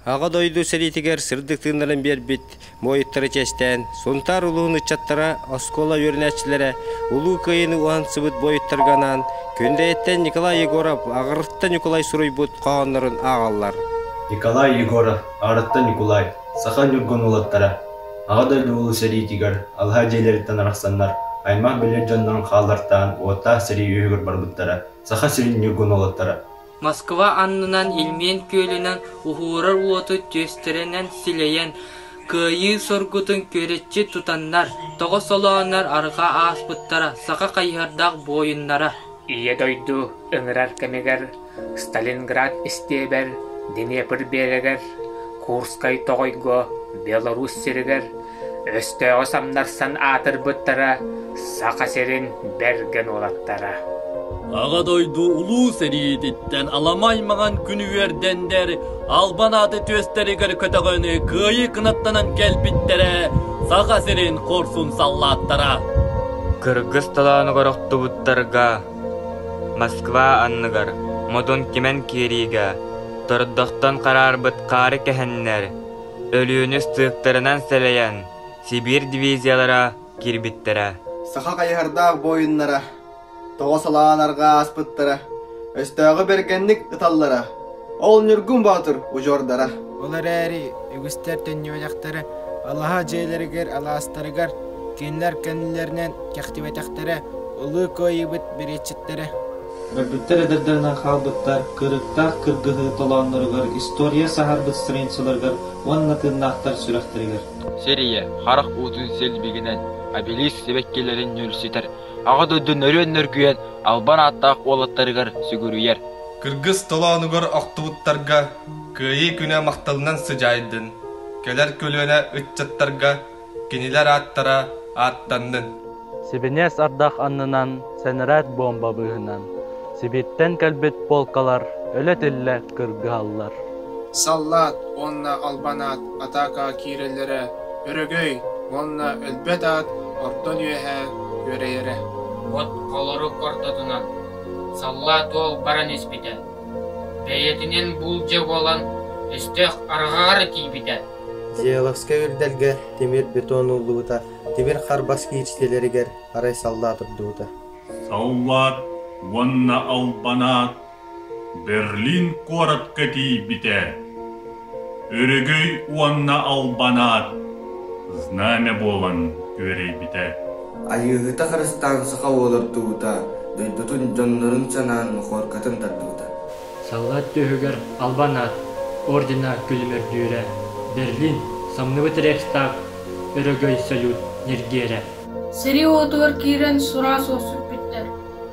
Аҕа дойду сэриитигэр сырдык тыыннарын биэрбит муойуттары чиэстээн, Сунтаар улууһун ыччаттара, оскуола үөрэнээччилэрэ Улуу Кыайыыны уһансыбыт буойуттарга анаан Күндэйэттэн Николай Егоров, аҕырытта Ньукулай суруйбут хоһооннорун ааҕаллар. Николай Егоров, аҕырытта Ньукулай, саха ньургун уолаттара Аҕа дойду улуу сэриитигэр алыһа дьиэлэриттэн арахсаннар аймах-билэр дьоннорун хааллартаан уоттаах сэрии үөһүгэр барбыттара, Саха сирин ньургун уолаттара Москва аннынан Ильмень күөлүнэн уһуурар уоту түөстэринэн силэйэн, кыайыы соргутун күөрэччи тутаннар, тоҕо солооннор арҕаа ааспыттара саха хайыһардаах буойуннара Ийэ дойду ыҥырар кэмигэр Сталинград истиэбэр Днепр биэрэгэр, Курскай тоҕойго, Беларусь сиригэр Өстөөҕү самнарсан аатырбыттара Саха сирин бэргэн уолаттара Аҕа дойду Улуу сэриититтэн аламай-маҥан күн үөрдэннэр Албан ааты түөстэригэр көтөҕөнү кыайыы кынаттанан кэлбиттэрэ Саха сирин хорсун саллааттара Кыргыс толоонугар охтубуттарга Москва анныгар модун кимэн киириигэ тордохтон хараарбыт хаары кэһэннэр Өлүүнү ыстыыктарынан сэлэйэн, Сибиир дивизиялара киирбиттэрэ. Саха хайыһардаах буойуннара тоҕо салаан арҕаа ааспыттара, өстөөҕү бэргэнник ыталлара, ол Ньургун Боотур удьуордара. Ол эрээри үгүстэр төннүбэтэхтэрэ, алаһа дьиэлэригэр, алаастарыгар, кинилэр кэннилэринэн кэхтибэтэхтэрэ, ылыы кыайыыбыт бэриэтчиттэрэ. Көрбүттэр эдэрдэринэн хаалбыттар кырыктаах кыргыһыы толоонноругар, история саһарбыт страницаларыгар уонна тыыннаахтар сүрэхтэригэр. Сэрийэ, харах уутун силбигинэн, обелиск сибэккилэрин нүөлсүтэр, Аҕа дойдуну өрүөн нөргүйэн албан ааттаах уолаттарыгар сүгүрүйэр. Кыргыс толоонугар охтубуттарга Кыайыы күнэ махталынан сыдьаайдын! Кэлэр көлүөнэ ыччаттарга Кинилэр ааттара ааттаннын. Сибиниэс ардах аннынан сэнэрээт буомба быыһынан Сибииттэн кэлбит полкалар өлө-тиллэ кыргыһаллар. Саллаат уонна албанаат атаакаҕа киирэллэрэ өрөгөй уонна өлбөт аат ортон үөһэ күөрэйэрэ. От холорук ортотунан Саллаат уол баран испитэ. Бэйэтинэн буулдьа буолан өстөөх арҕаҕар тиийбитэ. Дьяаловскай үрдэлгэ тимир бетон ууллубута, тимир харбас киирсиилэригэр арай саллаа турдубута Саллаат уонна албанаат Берлин куоратка тиийбитэ. Өрөгөй уонна албанаат знамя буолан күөрэйбитэ. Айыыһыта харыстаан саха уолар тубута, дойдутун дьоннорун санаан мохуоркатын тардыбыта. Саллаат түөһүгэр албан аат, ордена күлүмүрдүүрэ, Берлин, самныбыт Рейхстаг, өрөгөй салют ньиргиэрэ. Сэрии-уотугар киирэн сураас охсуппүттэр.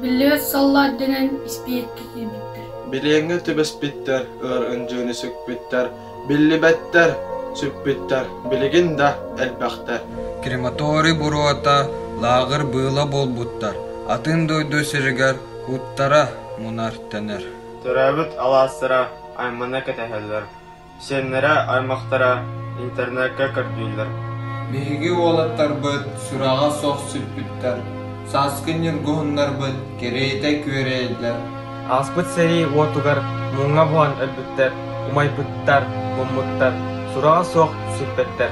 Биллибэт саллаат дэнэн испиэккэ киирбиттэр. Билиэҥҥэ түбэспиттэр, ыар ындьыыны сүкпүттэр, Биллибэттэр, сүппүттэр, билигин да элбэхтэр. Крематорий буруота, лааҕыр быыла буолбуттар. Атын дойду сиригэр куттара мунар-тэнэр. Төрөөбүт алаастара аймана кэтэһэллэр, сиэннэрэ аймахтара интернеккэ көрдүүллэр. Биһиги уолаттарбыт сүрэҕэ суох сүппүттэр, сааскы ньургуһуннарбыт кэриэтэ күөрэйэллэр. Ааспыт сэрии уотугар муҥха буһан өлбүттэр, умайбыттар, муммуттар, сураҕа суох сүппэттэр